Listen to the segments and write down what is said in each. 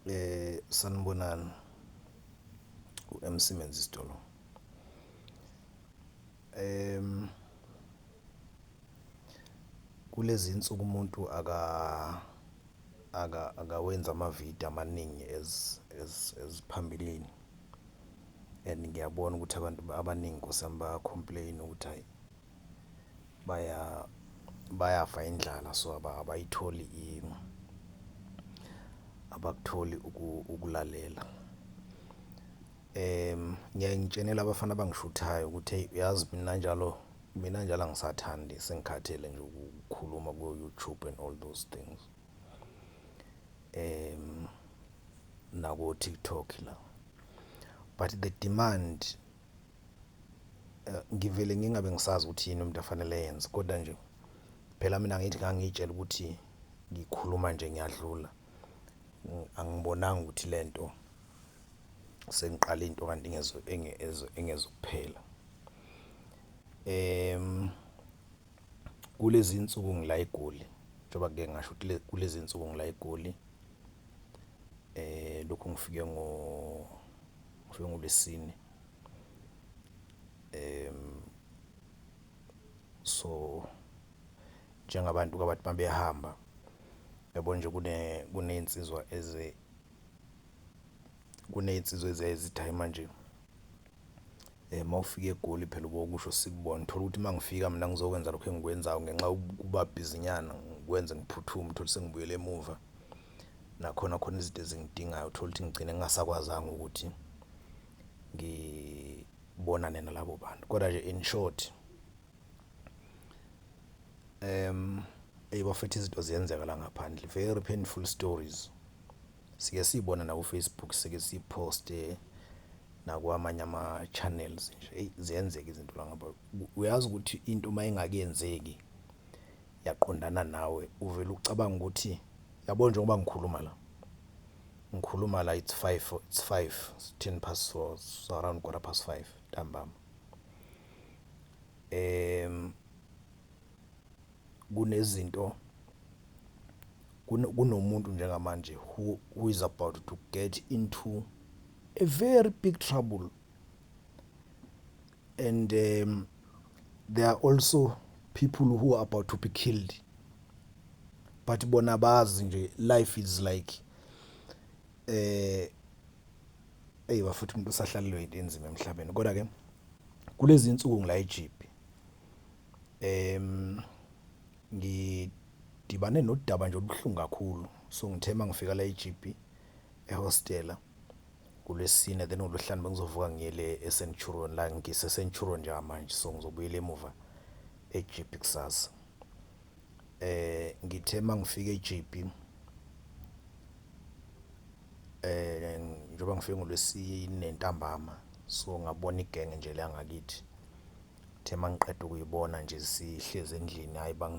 Eh sanibonani uMC Menzisitolo. Ehm kulezi nsuku umuntu aka akawenzi ama-video amaningi as as as phambilini and ngiyabona ukuthi abantu abaningi Nkosi yami baya-complain-a ukuthi hhayi. baya bayafa indlala so abayitholi abakutholi ukulalela um ngiyaye ngitshenele abafana abangishuthayo ukuthi eyi uyazi mina njalo mina njalo angisathandi sengikhathele nje ukukhuluma ku-youtube and all those things um nakotiktok la but the demand eh, ngivele ngingabe ngisazi ukuthi yini umuntu afanele yenze kodwa nje phela mina ngithi ngangiyitshela ukuthi ngikhuluma nje ngiyadlula angibonanga ukuthi lento sengiqala into kanti ngezo engezo engezokuphela em kulezi insuku ngila eGoli njengoba ke ngasho ukuthi kulezi insuku ngila eGoli eh lokhu ngifike ngo ngifike ngolesine um so njengabantu kabathi uma behamba yabo nje kuney'nsizwa kuney'nsizwa eziyaye zithi hhayi manje uma ufika eGoli phela ubokusho sikubone, uthole ukuthi uma ngifika mina ngizokwenza lokhu engikwenzayo ngenxa yokuba bhizinyana ngikwenze ngiphuthume uthole sengibuyele emuva. Nakhona khona izinto ezingidingayo uthole ukuthi ngigcine ngingasakwazanga ukuthi ngibonane nalabo bantu kodwa nje in short um eyi bafethu izinto ziyenzeka la ngaphandle very painful stories sike siyibona nakufacebook sike siyiposte nakwamanye ama-channels nje eyi ziyenzeka izinto la ngaba uyazi ukuthi into uma ingakenzeki yaqondana nawe uvele ucabanga ukuthi yabo njengoba ngikhuluma la ngikhuluma la it's 5 it's 5 10 past so, so around quarter past 5 ntambama em kunezinto kunomuntu njengamanje who, who is about to get into a very big trouble and um, there are also people who are about to be killed but bona bazi nje life is like eh eyi bafuthi umuntu usahlalelwe into enzima emhlabeni kodwa ke kulezi insuku ngila eJipi em ngidibane nodaba nje olubuhlungu kakhulu so ngithema ngifika la eJipi ehostela kulwesine then ngolwesihlanu bengizovuka ngiyele ecenturon la ngisecenturon njengamanje so ngizobuyela emuva ejp kusasa eh ngithe uma ngifika ejp eh njengoba ngifike ngolwesine ntambama so ngabona igenge nje la ngakithi the mangiqeda ukuyibona nje sihleze endlini hayi bang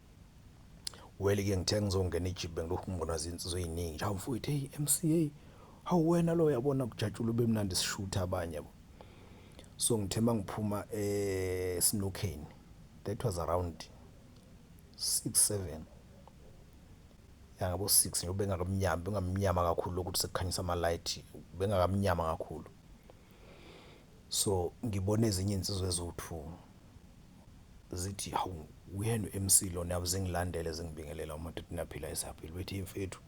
Weli ke ngithe ngizongena ijibhe ngilokhu ngibonwa zinsizwa eziningi nje awumfowethu hey MCA hawu wena lo yabona kujatshula ube mnandi sishutha abanye bo so ngithe mangiphuma eh sinokheni that was around 6 7 yangabo 6 nje bengakamnyama bengamnyama kakhulu lokuthi sekukhanyisa ama light bengakamnyama kakhulu so ngibona ezinye insizwe eziwu2 zithi hawu uyena uMC lona yabe zingilandele zingibingelela umadoda naphila esaphila bethi mfethu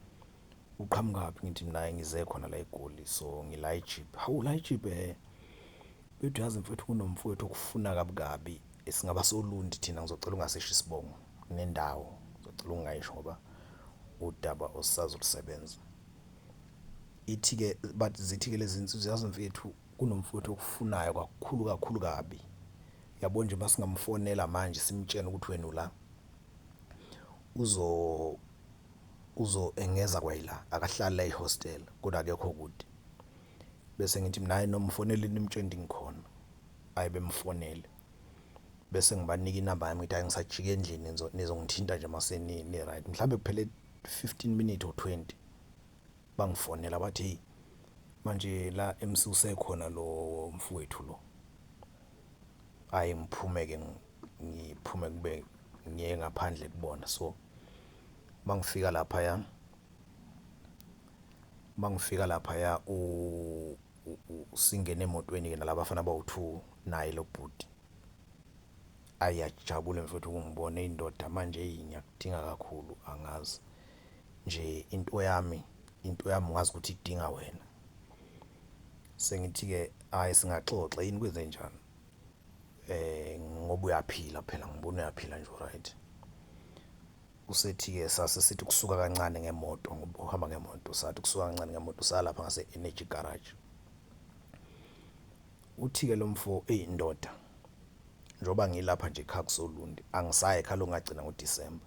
uqhamukaphi ngithi mina ngize khona la eGoli so ngila eJip hawu la eJip eh bethi yazi mfethu kunomfowethu okufuna kabi kabi singaba solundi thina ngizocela ungasisho isibongo nendawo ngizocela ungayisho ngoba udaba osazolusebenza ithi-ke but zithi-ke lezi nsizwa yazi mfethu Kunomfowethu okufunayo kakhulu kakhulu kabi. Yabo nje masingamfonela manje simtshene ukuthi wena ula. Uzo uzo engeza kwayila akahlali la ehostel kodwa akekho kude. Bese ngithi mina hayi noma mfonele nimtshene ukuthi ngikhona. Ayi bemfonele. Bese ngibanika inamba yami ngithi hayi ngisajika endlini nizongithinta nje mase ni right. Mhlambe kuphele 15 minutes or 20. Bangifonela bathi hey manje la emsuse khona lo mfowethu lo. Hayi ngiphume ke ngiphume kube ngiye ngaphandle kubona so mangifika lapha ya mangifika lapha ya u singene emotweni ke nalaba bafana bawu2 naye lo bhuti ayajabule mfowethu kungibona indoda manje hey ngiyakudinga kakhulu angazi nje into yami into yami ngazi ukuthi idinga wena sengithi-ke hhayi singaxoxa yini kwenze njani eh ngoba uyaphila phela ngibona uyaphila nje right usethi-ke sase sithi kusuka kancane ngemoto ngoba uhamba ngemoto sathi kusuka kancane ngemoto salapha ngase-energy garage uthi-ke lo mfo eyi ndoda njengoba ngilapha nje ekhaya kusolundi angisayi ekhaya lokungagcina ngodisemba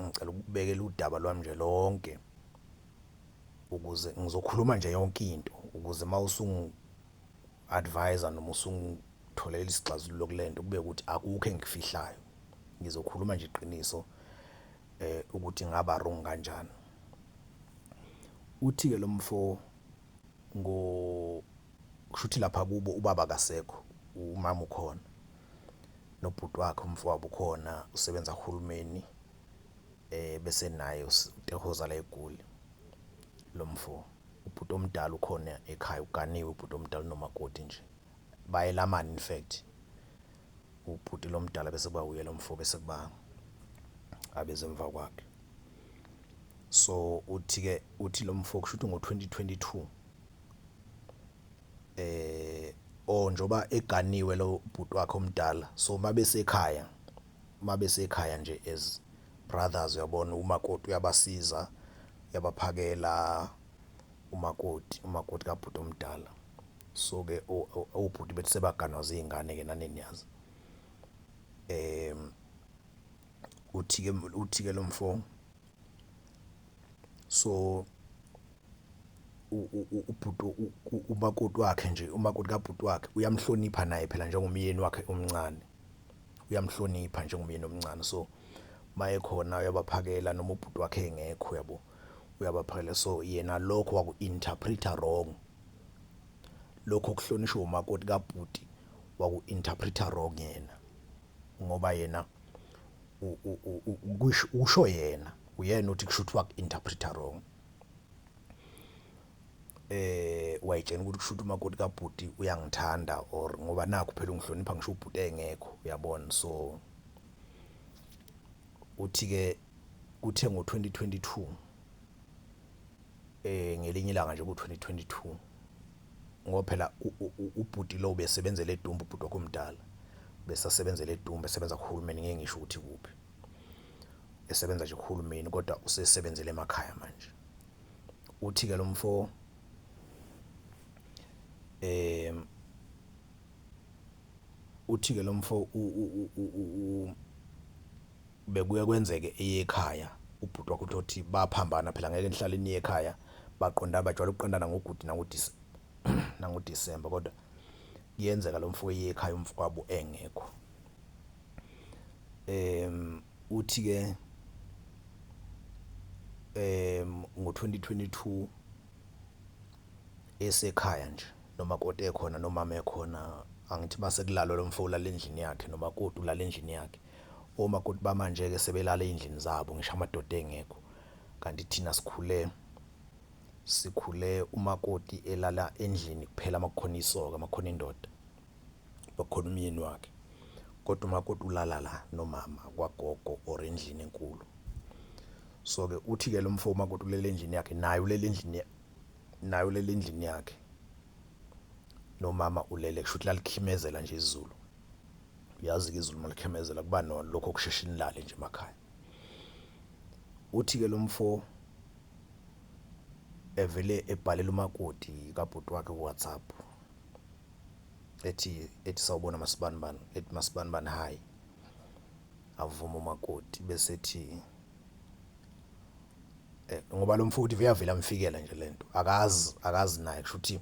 ngicela ukubekela udaba lwami nje lonke ukuze ngizokhuluma nje yonke into ukuze uma usungu advise noma usungitholela isixazululo kulento kube ukuthi akukho engikufihlayo ngizokhuluma nje iqiniso eh ukuthi ngaba wrong kanjani uthi ke lo mfo ngo kushuthi lapha kubo ubaba kasekho umama ukhona nobhuti wakhe umfowabo ukhona usebenza kuhulumeni eh bese naye utehoza la egoli lo mfo ubhuti omdala ukhona ekhaya uganiwe ubhuti omdala nomakoti nje bayelamana in fact ubhuti lomdala bese kuba uye lomfo bese kuba abeze emva kwakhe so uthi ke uthi lomfo kusho ukuthi ngo 2022 Or njengoba eganiwe lo bhuti wakhe omdala so uma besekhaya, uma besekhaya nje as brothers uyabona umakoti uyabasiza, uyabaphakela umakoti, umakoti kabhuti omdala. So-ke obhuti bethi sebaganwa zingane-ke nani niyazi. Uthi-ke, uthi-ke lo mfo so ubhuti umakoti wakhe nje umakoti kabhuti wakhe uyamhlonipha naye phela njengomyeni wakhe omncane uyamhlonipha njengomyeni omncane so maye khona uyabaphakela noma ubhuti wakhe engekho uyabo uyabaphakela so yena lokho waku-interpreta wrong lokho kuhlonishwa umakoti kabhuti waku-interpreta wrong yena. ngoba yena usho yena uyena uthi kusho ukuthi waku-interpreta wrong eh wayitshena ukuthi kushuthi umakoti kabhuti uyangithanda or ngoba nakho phela ungihlonipha ngisho ubhuti engekho uyabona so uthi ke kuthe ngo-2022 eh ngelinye ilanga nje ku-2022 Ngoba phela ubhuti lo ubesebenzela edumbe ubhuti wakho omdala besasebenzela edumbe esebenza kuhulumeni ngeke ngisho ukuthi kuphi esebenza nje kuhulumeni kodwa usesebenzela emakhaya manje uthi ke lo mfo eh uthi ke lo mfo bekuye kwenzeke eyekhaya ubhuti wakho uthi baphambana phela ngeke nihlale niye ekhaya baqondana bajwayele ukuqondana ngoguti nangoDisemba kodwa kuyenzeka lo mfo eye ekhaya umfowabo engekho um uthi ke um ngo-2022 esekhaya nje nomakoti ekhona nomama ekhona angithi masekulalwa lo mfo ulala endlini yakhe nomakoti ulala endlini yakhe Omakoti bamanje-ke sebelala ey'ndlini zabo, ngisho amadoda engekho. Kanti thina sikhule, sikhule umakoti elala endlini kuphela uma kukhona isoka, uma kukhona indoda, uma kukhona umyeni wakhe. Kodwa umakoti ulala la nomama kwagogo or endlini enkulu. So-ke uthi-ke lo mfo umakoti ulele endlini yakhe, naye ulele endlini, naye ulele endlini yakhe, nomama ulele, kusho ukuthi lalikhimezela nje izulu. uyazi-ke izulu malikhemezela kuba nona lokho okusheshe inilale nje emakhaya uthi-ke lo mfo evele ebhalela umakoti kabhuti wakhe ku-whatsapp ethi ethi sawubona masibanibani ethi masibanibani hhayi avuma umakoti bese ethi eh, ngoba lo mfowethu veyavela mfikela nje lento akazi akazi naye kusho ukuthi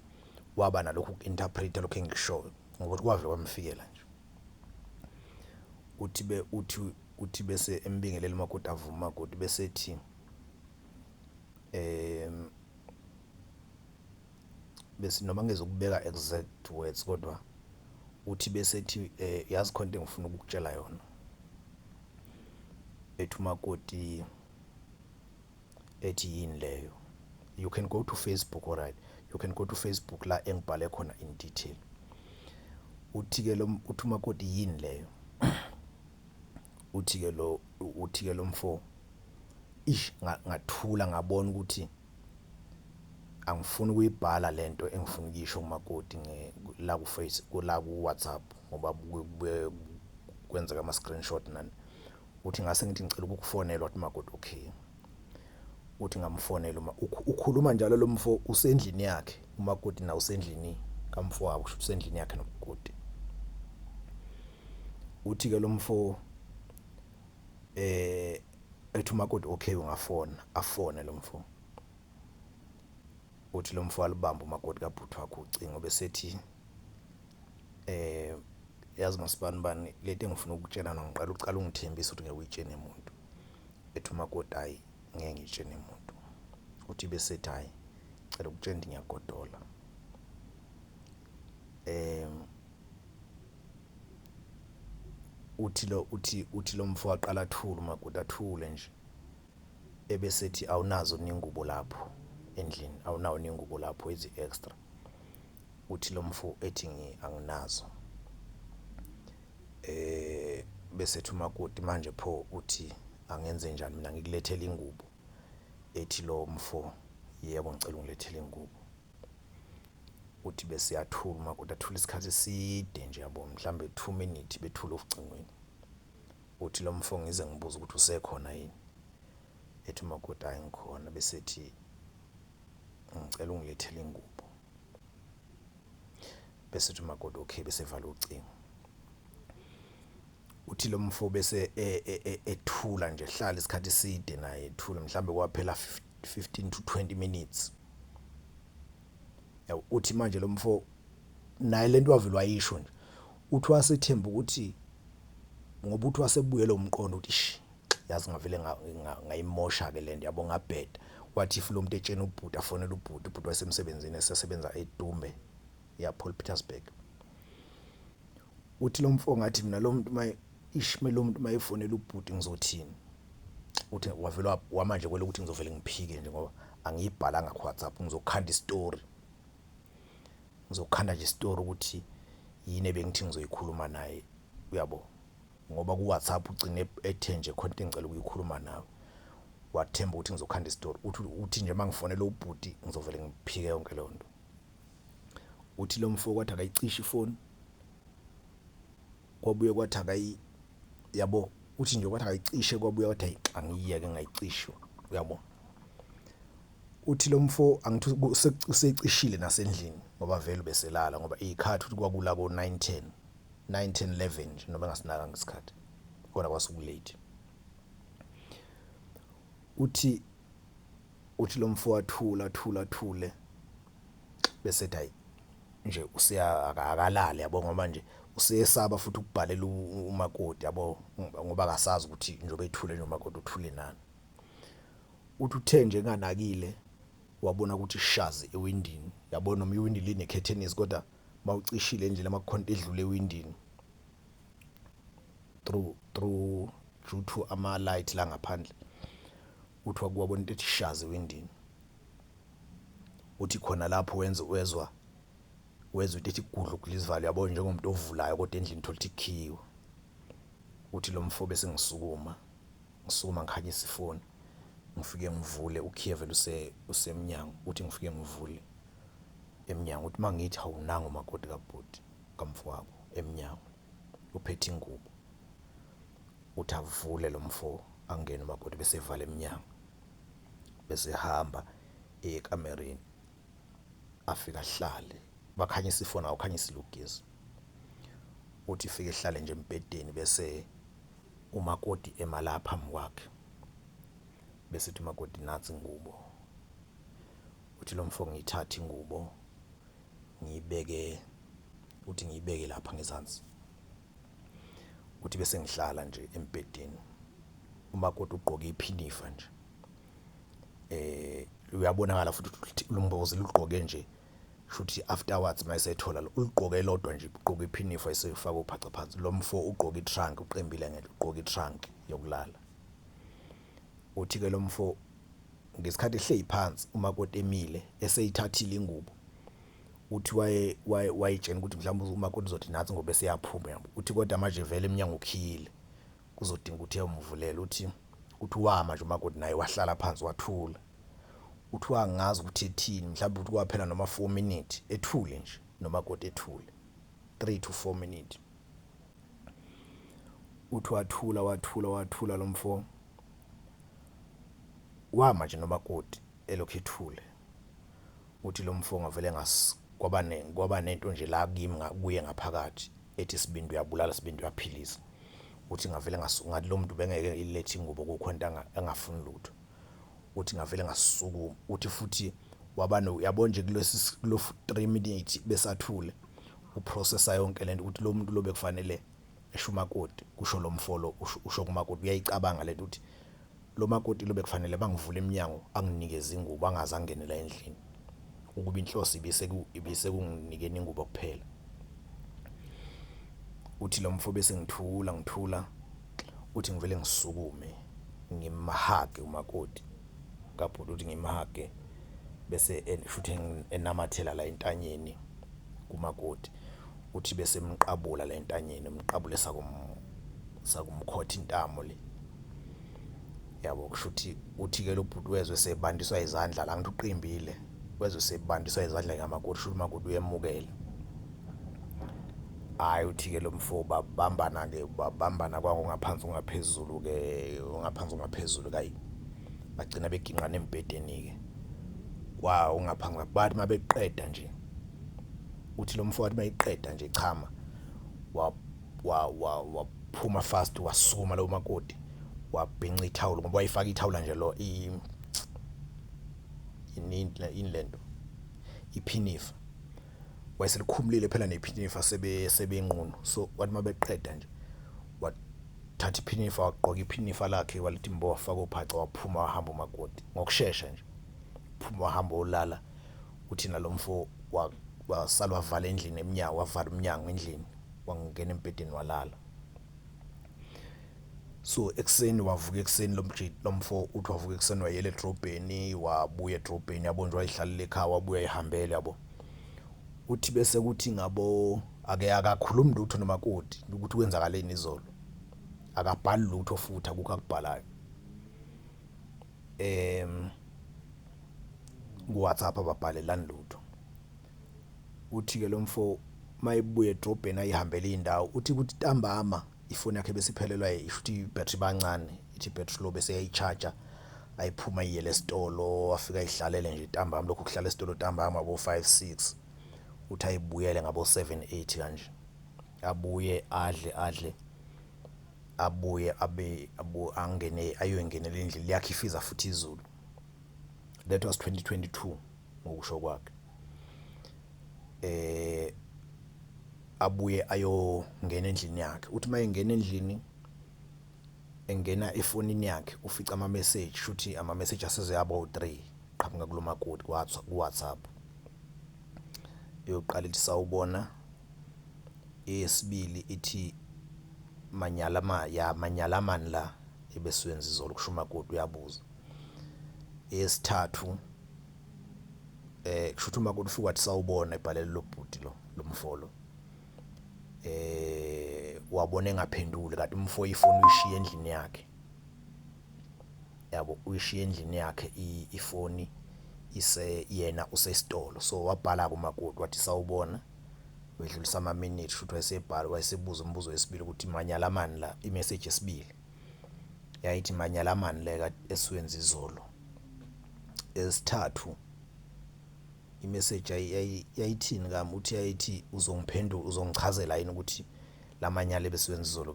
waba nalokhu ku-interpreta lokhu engikushoyo ngokuthi kwavele kwamfikela nje uthi be uthi uthi bese embingelela umakoti avuma umakoti bese ethi um bese noma ngizokubeka exact words kodwa uthi bese ethi um yazi khona into engifuna ukukutshela yona ethi umakoti ethi yini leyo you can go to facebook alright you can go to facebook la engibhale khona in detail uthi-ke lo uthi umakoti yini leyo uthi-ke lo uthi-ke lo mfo ish ngathula ngabona ukuthi angifuni ukuyibhala lento engifuna ukuyisho kumakoti la ku face la ku WhatsApp ngoba kwenzeka ama screenshot nani uthi ngase ngithi ngicela ukukufonela wathi makoti okay uthi ngamfonela uma ukhuluma njalo lo mfo usendlini yakhe umakoti na usendlini kamfowabo kusho usendlini yakhe nobukoti uthi ke lo mfo eh Ethi umakoti okay ungafona afone lo mfo. Uthi lo mfo walibamba umakoti kabhuti wakhe ucingo besethi eh yazi masibani bani lento engifuna ukutshela noma ngiqala uqala ungithembisa ukuthi ngeke uyitshene umuntu. Ethi umakoti hayi ngeke ngitshene umuntu. Uthi besethi hayi cela ukutshela ukuthi ngiyagodola. Eh uthi lo uthi uthi lo mfo aqala athule umakoti athule nje ebesethi awunazo ningubo lapho endlini awunawo ningubo lapho ezi extra uthi lo mfo ethi ngi anginazo eh besethi umakoti manje pho uthi angenze njani mina ngikulethela ingubo ethi lo mfo yebo ngicela ungilethele ingubo uthi bese uyathula umakoti athula isikhathi eside nje yabo mhlawumbe two minute bethule ocingweni uthi lo mfo ngize ngibuze ukuthi usekhona yini ethi umakoti hayi ngikhona bese ethi ngicela ungilethele ingubo bese ethi umakoti okay bese evala ucingo Uthi lo mfo bese e, e, e, ethula nje, hlala isikhathi eside naye ethule, mhlawumbe kwaphela 15 to 20 minutes. Yabo, uthi manje lo mfo naye lento wavele wayisho nje. Uthi wasethemba ukuthi ngoba uthi wasebuye lo mqondo uthi shi yazi ngavele ngayimosha ke lento yabo ngabheda wathi if lo muntu etshena ubhuti afonele ubhuti ubhuti wasemsebenzini esesebenza eDumbe ya Paul Petersburg Uthi lo mfo ngathi mina lo muntu maye ishme lo muntu mayefonela ubhuti ngizothini uthi wavele wamanje kwele ukuthi ngizovele ngiphike nje ngoba angiyibhalanga ku WhatsApp ngizokhanda istory ngizokhanda nje istory ukuthi yini ebengithi ngizoyikhuluma naye uyabo ngoba ku WhatsApp ugcine ethe nje khona into engicela ukuyikhuluma nawe wathemba ukuthi ngizokhanda istory uthi uthi nje mangifonela ubhuti ngizovele ngiphike yonke leyo nto Uthi lo mfo kwathi akayicishe ifoni, kwabuye kwathi akayi yabo, uthi nje kwathi akayicishe kwabuye kwathi ayi angiyeke ngayicisho uyabo. Uthi lo mfo angithi usecishile nasendlini ngoba vele ubeselala ngoba iy'khathi uthi kwakula ko-nine ten, nine ten eleven nje noma engasinakanga isikhathi khona kwase ku-late. Uthi. Uthi lo mfo athule athule athule bese ethi hayi nje useya akalali yabo ngoba nje usesaba futhi ukubhalela umakoti yabo ngoba akasazi ukuthi njengoba ethule nje umakoti uthule nani uthi uthe nje nganakile wabona ukuthi ishazi ewindini yabona noma iwindi linekhethenisi kodwa mawucishile nje lamakhonto edlule ewindini through through due to ama light la ngaphandle Uthi wabuka wabona into ethi shazi ewindini. Uthi khona lapho wenza wezwa wezwa into ethi gudlu kulizivalo yabo njengomuntu ovulayo kodwa endlini thola ukuthi ikhiwe. Uthi lo mfo bese ngisukuma ngisukuma ngikhanyisa ifoni ngifike ngivule ukhiye vele use usemnyango uthi ngifike ngivule emnyango uthi mangithi awunanga umakoti kabhuti kamfowabo emnyango uphethe ingubo uthi avule lo mfo angene umakoti bese evala emnyango bese ehamba eye ekamereni afika ahlale bakhanyisa ifoni awukhanyisa ilugezi uthi ifike ehlale nje embhedeni bese umakoti emalapha phambi kwakhe bese uthi umakoti nathi ingubo Uthi lo mfo ngiyithathe ingubo ngiyibeke uthi ngiyibeke lapha ngezansi. Uthi bese ngihlala nje embhedeni. Umakoti ugqoke iphinifa nje. Eh uyabonakala futhi ukuthi lumbozi lugqoke nje shuthi afterwards mayisethola ulugqoke elodwa nje ugqoke iphinifa esefaka uphaca phansi. Lo mfo ugqoke itrunk uqembile ngeke ugqoke itrunk yokulala. Uthi ke lomfo ngesikhathi ehleli phansi umakoti emile eseyithathile ingubo uthi waye wayitshena ukuthi mhlawumbe umakoti uzothi nathi ngoba eseyaphuma yabo uthi kodwa manje vele emnyango ukhiyile kuzodinga ukuthi eyomvulela uthi uthi wama nje umakoti naye wahlala phansi wathula uthi wangazi ukuthi ethini mhlawumbe uthi kwaphela noma 4 minutes ethule nje nomakoti ethule 3 to 4 minutes Uthi wathula wathula wathula lo mfo wama nje nomakoti elokhu ethule uthi lo mfo ngavele ngas kwaba ne kwaba nento nje la kimi nga- kuye ngaphakathi ethi sibindi uyabulala sibindi uyaphilisa uthi ngavele ngas ngathi lo muntu bengeke ilethe ingubo kukhonta anga- engafuni lutho uthi ngavele ngasukuma uthi futhi wabano uyabo nje kulesi kulo 3 minutes besathule uprocessa yonke lento ukuthi lo muntu lobe kufanele esho umakoti kusho lo mfolo usho kumakoti uyayicabanga lento ukuthi lo makoti lobe kufanele bangivule eminyango anginikeze ingubo angaze angenela endlini ukuba inhloso ibiseku ibisekunginikeni ingubo kuphela uthi lo mfo bese ngithula ngithula Uthi ngivele ngisukume ngimhage umakoti kabhuti uthi ngimhage bese futhi enamathela la entanyeni kumakoti uthi bese emqabula la entanyeni umqabule sakum sakumkhotha intamo le yabo kusho ukuthi uthi ke lo bhuti wezwe sebandiswa izandla la ngithi uqimbile wezwe sebandiswa izandla kamakoti shuthi umakoti uyemukela hhayi uthi-ke lo mfo babambana-ke babambana kwakungaphansi ungaphezulu-ke ungaphansi ungaphezulu kayi bagcina beginqana embhedeni-ke wa ungaphansi bathi uma beqeda nje uthi lo mfo wathi uma eqeda nje chama waphuma fast wasukuma lo makoti wabhinca ithawula ngoba wayifaka ithawula nje lo yini lento iphinifa wayeselikhumulile phela nephinifa sebe sebenqunu so wathi mabeqeda nje wathatha iphinifa wagqoka iphinifa lakhe walithi mbo wafaka ophaca waphuma wahamba umakoti ngokusheshsha nje phuma wahamba olala uthi nalomfo wasala wavala endlini emnyango wavala umnyango endlini wangena embhedeni walala So ekuseni wavuka ekuseni lomjit lomfo uthi wavuka ekuseni wayela edrobheni wabuya edrobheni yabo nje wayihlalele ekhaya wabuya ihambele yabo. Uthi bese kuthi ngabo ake akakhulumi lutho nomakoti ukuthi kwenzakaleni izolo. Akabhali lutho futhi akukho akubhalayo. Em kuWhatsApp ababhalelani lutho. Uthi ke lomfo mayebuya edrobheni ayihambele indawo uthi kuthi ntambama ifoni yakhe besiphelelwa isho ukuthi battery bancane ithi battery lo bese yayicharger ayiphuma iyele esitolo wafika ihlalele nje ntambama lokhu kuhlala esitolo ntambama bo 5 6 uthi ayibuyele ngabo 7 8 kanje abuye adle adle abuye abe abu angene ayoyingenela indlela yakhe ifiza futhi izulu that was 2022 ngokusho kwakhe. Eh abuye ayongena endlini yakhe. Uthi uma engena endlini engena efonini yakhe ufica ama-message shuthi ama-message asezoyaba u-three qhamuka kulo makoti ku-WhatsApp. Eyokuqala ithi sawubona, eyesibili ithi manyala ma ya manyala mani la ebesiwenza izolo kusho umakoti uyabuza. Eyesithathu eh kushuthi uma kuthi wathi sawubona ebhalele lobhuti lo lomfolo eh wabona engaphenduli kanti umfo ifoni uyishiya endlini yakhe yabo uyishiya endlini yakhe ifoni ise yena usesitolo so wabhala kumakoti wathi sawubona wedlulisa ama minute futhi wayesebhala wayesebuza umbuzo wesibili ukuthi manyala mani la i message yesibili yayithi manyalamani leka esiwenza izolo esithathu imeseji yayithini kami uthi yayithi uzongiphendula uzongichazela yini ukuthi lamanyala ebesiwenza izolo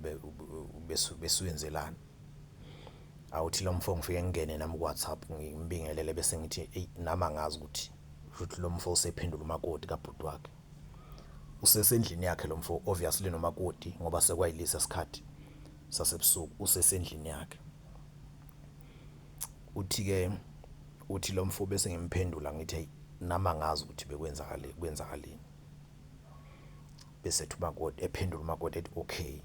besiwenzelani awuthi lo mfo ngifike ngingene nami ku-whatsapp ngimbingelele bese ngithi eyi nami angazi ukuthi futhi lo mfo usephendula umakoti kabhuti wakhe usesendlini yakhe lo mfo obviously nomakoti ngoba sekwayilisa isikhathi sasebusuku usesendlini yakhe. Uthi-ke uthi lo mfo bese ngimphendula ngithi eyi nami angazi ukuthi bekwenzakale kwenzakaleni. Bese ethi umakoti ephendula umakoti ethi okay.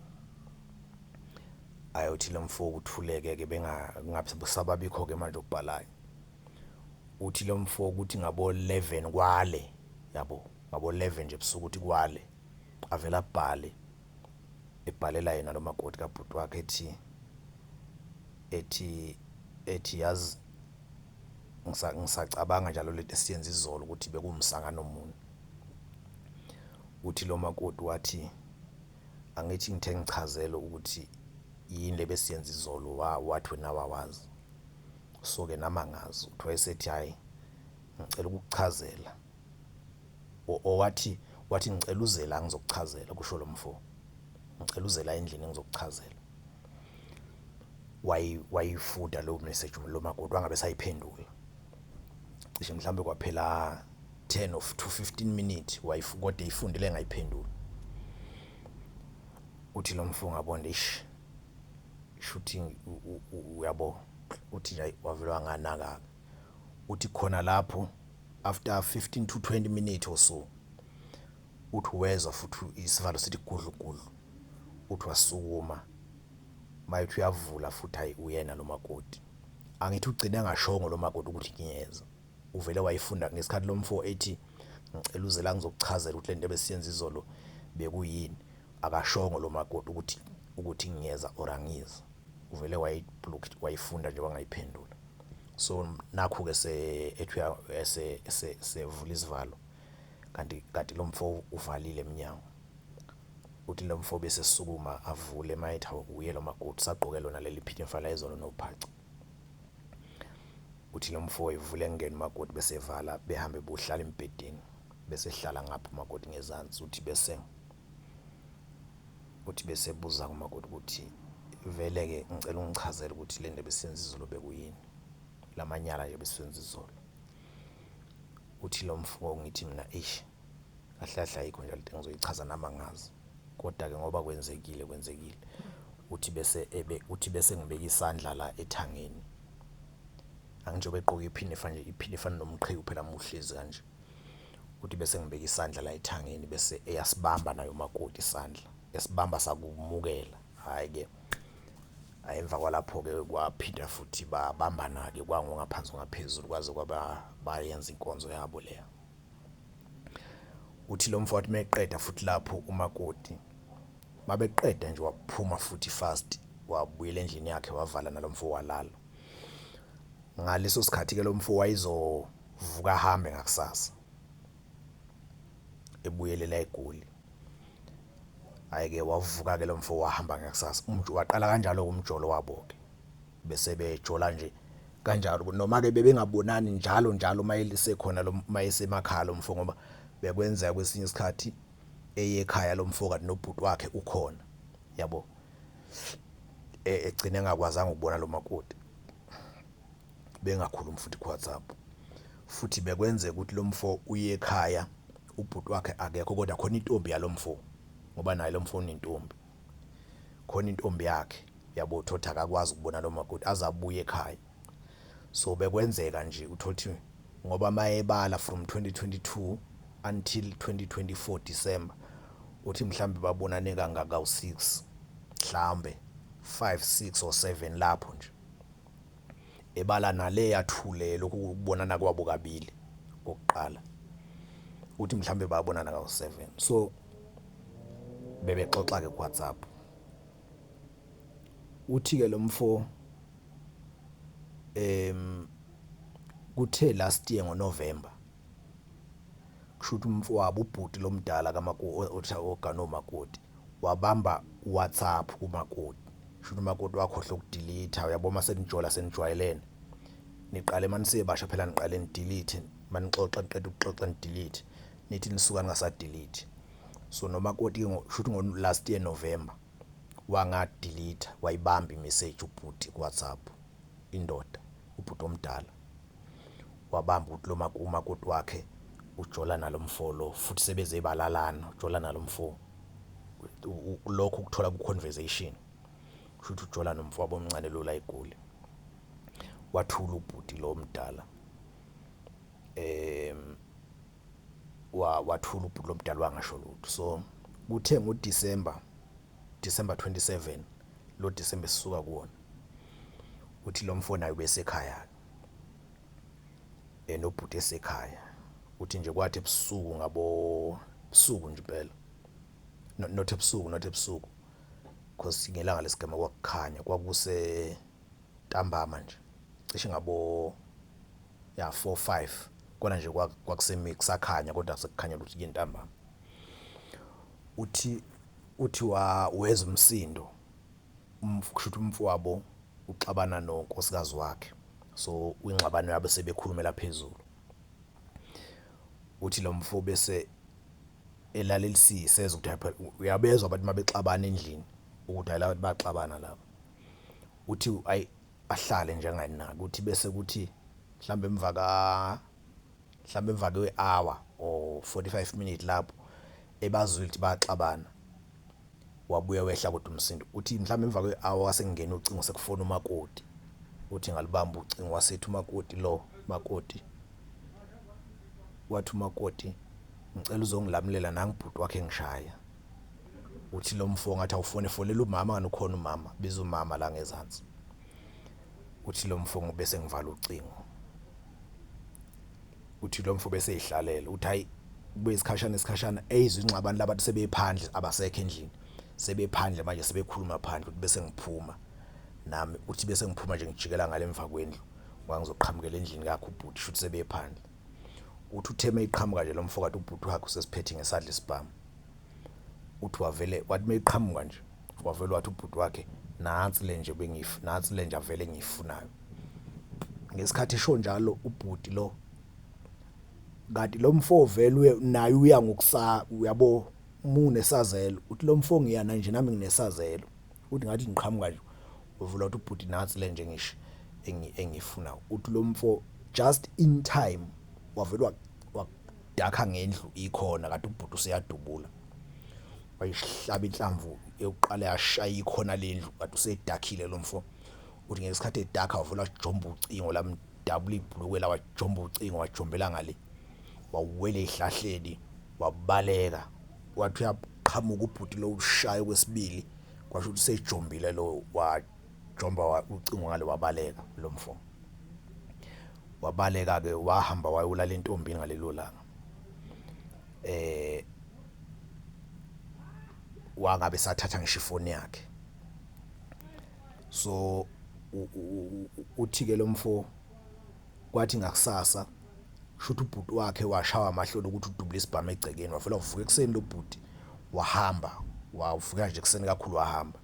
Ayothi lo mfo uthuleke-ke bengasababikho-ke manje okubhalayo. Uthi lo mfo ukuthi ngabo-eleven kwale yabo, ngabo-eleven nje ebusuku uthi kwale avele abhale. ebhalela yena lo makoti kabhuti wakhe ethi ethi ethi yazi ngisacabanga njalo lento esiyenza izolo ukuthi bekumsangano muni uthi lo makoti wathi angithi ngithe ngichazele ukuthi yini le besiyenza izolo wathi wena wawazi so-ke nami angazi uthi wayesethi hhayi ngicela ukukuchazela Wathi, wathi, Ngicela uze la, ngizokuchazela, kusho lo mfo. Ngicela uze la endlini, ngizokuchazela. Wayi, wayifuda leyo message lo makoti, wangabe esayiphendula. Cishe mhlawumbe kwaphela 10 of to 15 minutes, kodwa eyifundile engayiphenduli. Uthi lo mfo ngabona, ish, shuthi uyabo, uthi nje wavele wanganaka-ke. uthi khona lapho after 15 to 20 minutes or so uthi wezwa futhi isivalo sithi gudlugudlu uthi wasukuma mayethu uyavula futhi hayi uyena lo makoti angithi ugcine ngashongo lo makoti ukuthi ngiyeza uvele wayifunda ngesikhathi lo mfo ethi ngicela uze la ngizokuchazela ukuthi le nto ebesiyenza izolo bekuyini akashongo lo makoti ukuthi ukuthi ngiyeza or angizi uvele wayiblock wayifunda nje wangayiphendula so nakhu ke se ethuya ese ese sevula isivalo kanti kanti lo mfo uvalile eminyango uthi lo mfo bese sukuma avule mayetha uye lo makoti sagqoke lona leli phithe mfala ezolo nophaca uthi lo mfo evule engena umakoti bese evala behambe bohlala embhedeni bese ehlala ngapha umakoti ngezansi uthi bese uthi bese buza kumakoti ukuthi vele-ke ngicela ungichazele ukuthi le nto ebesenza izolo bekuyini la manyala nje besenza izolo uthi lo mfo ngithi mina eish kahle kahle ayikho nje lento engizoyichaza nami angazi kodwa-ke ngoba kwenzekile kwenzekile uthi bese ebe uthi bese ngibeka isandla la ethangeni angijobe egqoke iphinifa nje iphinifa nomqhiwu phela muhlezi kanje Uthi bese ngibeka isandla la ethangeni bese eyasibamba naye umakoti isandla, esibamba sakumukela. Hhayi-ke, hhayi emva kwalapho-ke kwaphinda futhi babambana-ke kwangongaphansi ongaphezulu kwaze kwaba bayenza inkonzo yabo leya. Uthi lo mfo wathi meqeda futhi lapho umakoti, mabeqeda nje waphuma futhi fast wabuyela endlini yakhe wavala nalo mfo walala. Ngaleso sikhathi-ke lo mfo wayezo. Vuka ahambe ngakusasa. Ebuyelela eGoli. Ayike wavuka ke lo mfo wahamba ngakusasa. Umjolo waqala kanjalo umjolo wabo ke. Bese bejola nje kanjalo noma ke bebengabonani njalo njalo uma elisekhona lo mayesemakhaya lo mfo ngoba bekwenzeka kwesinye isikhathi eye ekhaya lo mfo kanti nobhuti wakhe ukhona. Yabo? E, egcine engakwazanga ukubona lo makoti. bengakhulumi futhi kuWhatsApp futhi bekwenzeka ukuthi lo mfo uye ekhaya ubhuti wakhe akekho kodwa khona intombi yalo mfo ngoba naye lo mfo unentombi khona intombi yakhe yabo thothi akakwazi ukubona lo makoti aze abuye ekhaya so bekwenzeka nje uthothi ngoba mayebala from 2022 until 2024 December uthi mhlambe babonane kangaka u6 mhlambe 5 6 or 7 lapho nje ebala nale yathule lokhu kubonana kwabo kabili kokuqala uthi mhlawumbe babonana kawu-seven so bebexoxa-ke kuwhatsapp uthi-ke lo mfo um kuthe last year ngonovemba Kusho ukuthi umfowabo ubhuti lomdala kamakoti ogana omakoti wabamba uWhatsApp kumakoti. Kusho ukuthi umakoti wakhohlwa ukudilitha uyabo uma senijola senijwayelene. Niqale uma nisebasha phela niqale nidilithe uma nixoxa niqeda ukuxoxa nidilithe. Nithi nisuka ningasadilithi. So nomakoti-ke kusho ukuthi ngo-last year November wanga delete wayibamba imessage ubhuti ku WhatsApp indoda ubhuti omdala wabamba ukuthi lo umakoti wakhe ujola nalomfo lo futhi sebeze balalana ujola nalomfo lokho ukuthola ku conversation shuthi ujola nomfo wabomncane lo la egoli wathula ubhuti lo omdala em wathula ubhuti lomdala wangasho lutho so kuthe ngo December December 27 lo December sisuka kuwona uthi lo mfo naye besekhaya ke enobhuti esekhaya uthi nje kwathi ebusuku ngabo busuku nje impela not ebusuku not ebusuku because ngelanga lesigema kwakukhanya kwakuse ntambama nje cishe ngabo ya 4 5 kona nje kwakusemi kusakhanya kodwa sekukhanya ukuthi ke ntambama uthi uthi wa weza umsindo umfusho ukuthi umfowabo uxabana nonkosikazi wakhe so ingxabano yabe sebekhulumela phezulu uthi lo mfo bese elalelisise ukuthi uyabezwa abantu mabexabana endlini ukuthi ayila baxabana laba uthi ayi ahlale njengani na kuthi bese kuthi mhlawumbe emva ka mhlawumbe emva kwe-hour or 45 minutes lapho ebazwile ukuthi baxabana wabuya wehla kodwa umsindo uthi mhlawumbe emva kwe-hour wasengena ucingo sekufona umakoti uthi ngalibamba ucingo wasethi umakoti lo makoti wathi umakoti ngicela uzongilamulela nangibhuti wakhe ngishaya Uthi lo mfo ngathi awufone fonela umama ngani ukhona umama biza umama la ngezansi. Uthi lo mfo ngube sengivala ucingo. Uthi lo mfo bese ehlalela uthi hayi kube isikhashana isikhashana eyizwe inxabani labantu sebephandle abasekho endlini. Sebephandle manje sebekhuluma phandle uthi bese ngiphuma nami uthi bese ngiphuma nje ngijikela ngale emva kwendlu ngoba ngizoqhamukela endlini kakho ubhuti shuthi sebephandle. Uthi utheme iqhamuka nje lo mfo kanti ubhuti wakhe usesiphethe ngesandla isibhamu. uthi wavele wathi meyiqhamuka nje wavele wathi ubhuti wakhe nansi le nje bengif nansi le nje avele ngiyifunayo ngesikhathi esho njalo ubhuti lo kanti lo mfo velwe naye uya ngokusa uyabo mune sazelo uthi lo mfo ngiyana nje nami nginesazelo uthi ngathi ngiqhamuka nje uvula uthi ubhuti nansi le nje ngisho engifuna uthi lo mfo just in time wavele Dakha ngendlu ikhona kade ubhuti useyadubula. Wayihlaba inhlamvu yokuqala yashaya ikhona lendlu kade usedakhile lomfo. Uthi ngesikhathi edakha wavula jomba ucingo lamdabula ibhulukwe lawa jomba ucingo wajombela ngale. Wawela ehlahleni wabaleka. Wathi uyaqhamuka ubhuti lo ushaya kwesibili kwasho ukuthi sejombile lo wa Jomba wa, ucingo ngale wabaleka lo mfo. Wabaleka-ke wahamba wayolala entombini ngalelo langa. Eh wangabe sathatha ngisho ifoni yakhe. So uthike lo mfo kwathi ngakusasa shuthi ubhuti wakhe washawa amahloni ukuthi udubule isibhamu egcekeni wavela uvuka ekuseni lo bhuti wahamba wavuka nje ekuseni kakhulu wahamba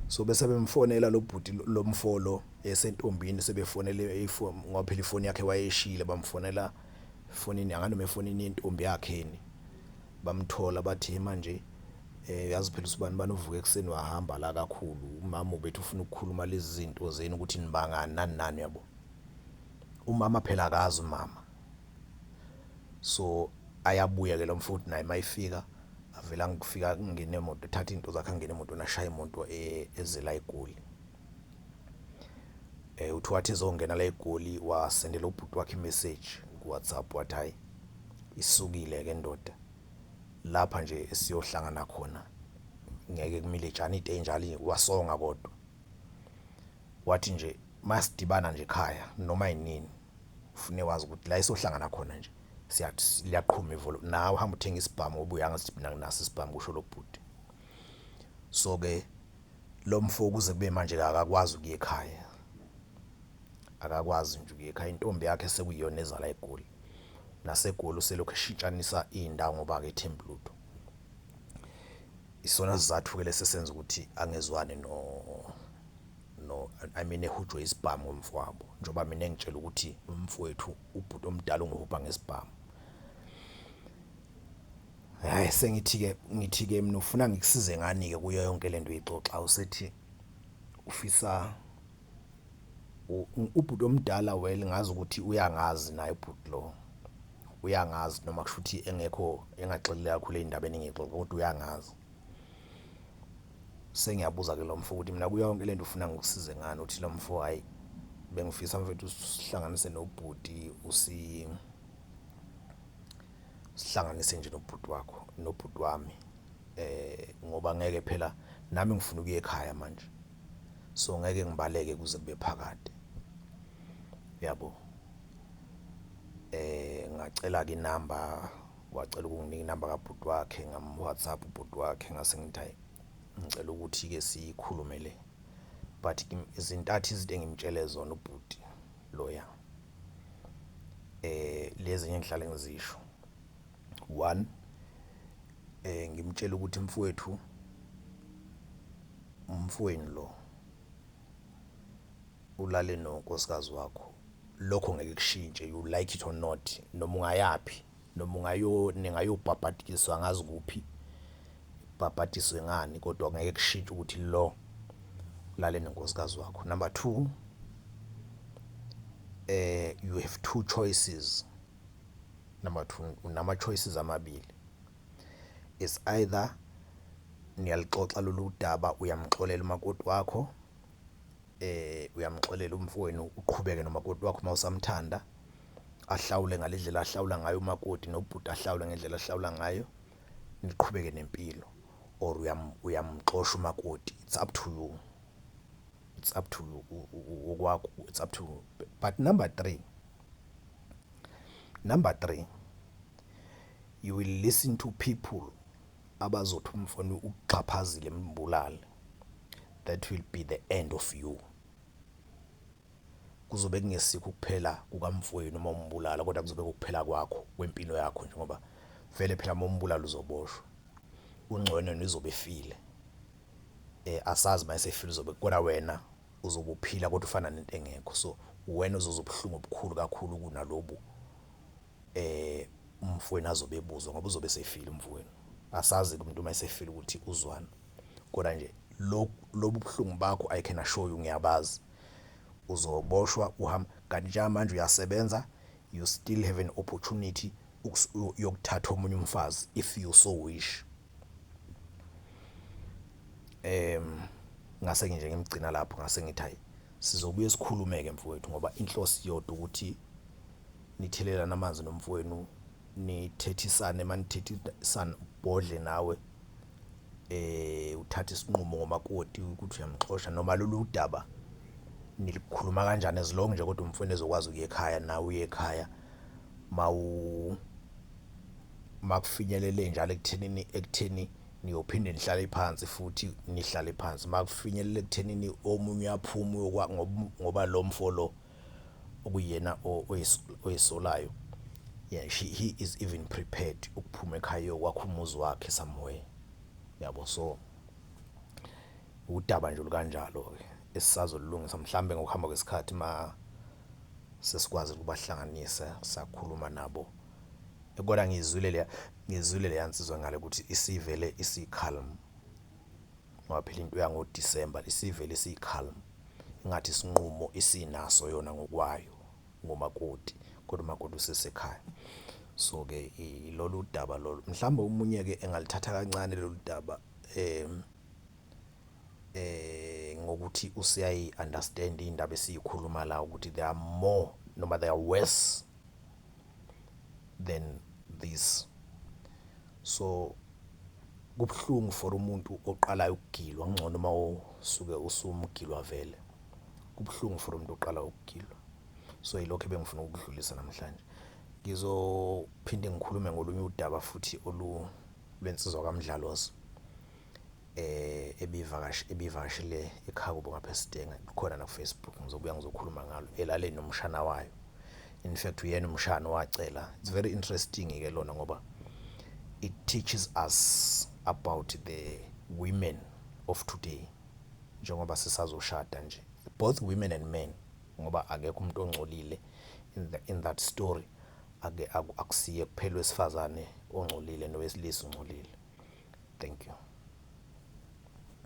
so bese bemfonela lo bhuti lo mfo lo esentombini sebefonele ifoni ngoba phela ifoni yakhe wayeshile bamfonela efonini anganoma efonini yentombi yakhe yini bamthola bathi manje eh yazi phela usibani bani uvuka ekuseni wahamba la kakhulu umama ubethi ufuna ukukhuluma lezi zinto zenu ukuthi nibangani nani nani uyabo umama phela akazi umama so ayabuya ke lo mfowethu naye mayifika avele angifika kungene emoto thatha into zakhe angene emotweni ashaya imoto e, ezela egoli eh uthi wathi ezongena la egoli wasendela ubhuti wakhe imessage kuWhatsApp wathi hayi isukile ke ndoda lapha nje esiyohlangana khona ngeke kumile jani ite njalo wasonga kodwa wathi nje masidibana nje ekhaya noma yinini ufune wazi ukuthi la isohlangana khona nje siyathi liyaqhuma ivolo nawe uhamba uthenga isibhamu obuya ngathi mina nginaso isibhamu kusho lo bhuti so ke lo mfo kuze kube manje akakwazi ukuya ekhaya akakwazi nje ukuya ekhaya intombi yakhe sekuyiyona ezala egoli nasegoli uselokhu eshintshanisa iy'ndawo ngoba-ke ethembi lutho isona sizathu-ke lesi esenza ukuthi angezwani no no i mean ehujwe isibhamu ngomfowabo njengoba mina engitshela ukuthi umfowethu ubhuti omdala ungihubha ngesibhamu hayi sengithi-ke ngithi-ke mina ufuna ngikusize ngani-ke kuyo yonke le nto uyixoxa usethi ufisa Ubhuti omdala well ngazi ukuthi uyangazi naye ubhuti lo uyangazi noma kusho ukuthi engekho engaxelile kakhulu ey'ndabeni engiyixoxa kodwa uyangazi sengiyabuza ke lo mfo ukuthi mina kuyo yonke le nto ufuna ngikusize ngani uthi lo mfo hhayi bengifisa mfethu sihlanganise nobhuti usi sihlanganise nje nobhuti wakho nobhuti wami um ngoba ngeke phela nami ngifuna ukuya ekhaya manje. so ngeke ngibaleke kuze kube phakade yabo eh ngacela ke inamba wacela ukunginika inamba kabhuti wakhe ngam WhatsApp ubhuti wakhe ngase ngithi ngicela ukuthi ke sikhulume le but izintathu izinto engimtshele zona ubhuti loya eh lezi ngihlale ngizisho one eh ngimtshela ukuthi mfowethu Umfweni lo ulale nonkosikazi wakho lokho ngeke kushintshe you like it or not noma ungayaphi noma ungayo ningayobhabhadiswa ngazi kuphi bhabhadiswe ngani kodwa ngeke kushintshe ukuthi lo ulale nonkosikazi wakho number 2 eh you have two choices number 2 unama choices amabili It's either niyaluxoxa lolu daba, uyamxolela umakoti wakho, uyamxolela umfowenu uqhubeke nomakoti wakho uma usamthanda, ahlawule ngale ndlela ahlawula ngayo umakoti, nobhuti ahlawule ngendlela ahlawula ngayo, niqhubeke nempilo or uyamxosha umakoti. It's up to you, it's up to you okwakho, it's up to you. But number three, number three. You will listen to people abazothi umfana ukuxhaphazile mbulale that will be the end of you kuzobe kungesikho ukuphela kukamfowenu uma umbulala kodwa kuzobe kukuphela kwakho kwempilo yakho nje ngoba vele phela uma umbulala uzoboshwa ungcono nizobe file eh asazi uma esefile uzobe kodwa wena uzobuphila kodwa ufana nento engekho so wena uzozobuhlungu obukhulu kakhulu kunalobu umfowenu azobe ebuzwa ngoba uzobe esefile umfowenu. Asazi-ke umuntu uma esefile ukuthi uzwani, kodwa nje lobu buhlungu bakho I can assure you ngiyabazi. Uzoboshwa uhambe, kanti njengamanje uyasebenza, you still have an opportunity yokuthatha omunye umfazi if you so wish. Em ngase nje ngimgcina lapho ngase ngithi hhayi sizobuye sikhulume-ke mfowethu ngoba inhloso iyodwa ukuthi nithelelane amanzi nomfowenu, nithethisane uma nithethisana ubhodle nawe uthathe isinqumo ngomakoti ukuthi uyamxosha noma lolu daba nilikhuluma kanjani as long nje kodwa umfowenu ezokwazi ukuya ekhaya nawe uye ekhaya . makufinyelele njalo ekuthenini ekutheni niyophinde nihlale phansi futhi nihlale phansi makufinyelele ekuthenini omunye aphume ngoba lo mfo lo okuyena oyisolayo yeah she he is even prepared ukuphuma ekhaya yokwakha umuzi wakhe somewhere yabo so udaba nje olukanjalo-ke esisazolulungisa mhlawumbe ngokuhamba kwesikhathi uma sesikwazi ukubahlanganisa sakhuluma nabo. Kona ngiyizwile leya ngiyizwile leya nsizwa ngale ukuthi isivele isikhalm. Ngoba phela into yango December isivele isikhalm. Ingathi isinqumo isinaso yona ngokwayo ngomakoti kodwa umakoti usesekhaya. So-ke ilolu daba lolu. Mhlawumbe omunye-ke engalithatha kancane lolu daba ngokuthi useyayi-understand-a iy'ndaba esiyikhuluma la ukuthi they are more noma they are worse than this so kubuhlungu for umuntu oqalayo ukugilwa ngcono uma usuke usumgilwa vele kubuhlungu for umuntu oqala ukugilwa so yilokho ebengifuna ukudlulisa namhlanje ngizophinde ngikhulume ngolunye udaba futhi olu lwensizwa kamdlalozi eh ebivakashi ebivakashile ekhaya kubo ngapha eSidenge likhona na Facebook ngizobuya ngizokhuluma ngalo elale nomshana wayo in fact uyena umshana wacela it's very interesting ke lona ngoba it teaches us about the women of today njengoba sisazoshada nje both women and men ngoba akekho umuntu ongcolile in, the, in that story Ake aku akusiye kuphela wesifazane ongcolile nowesilisa ungcolile. Thank you.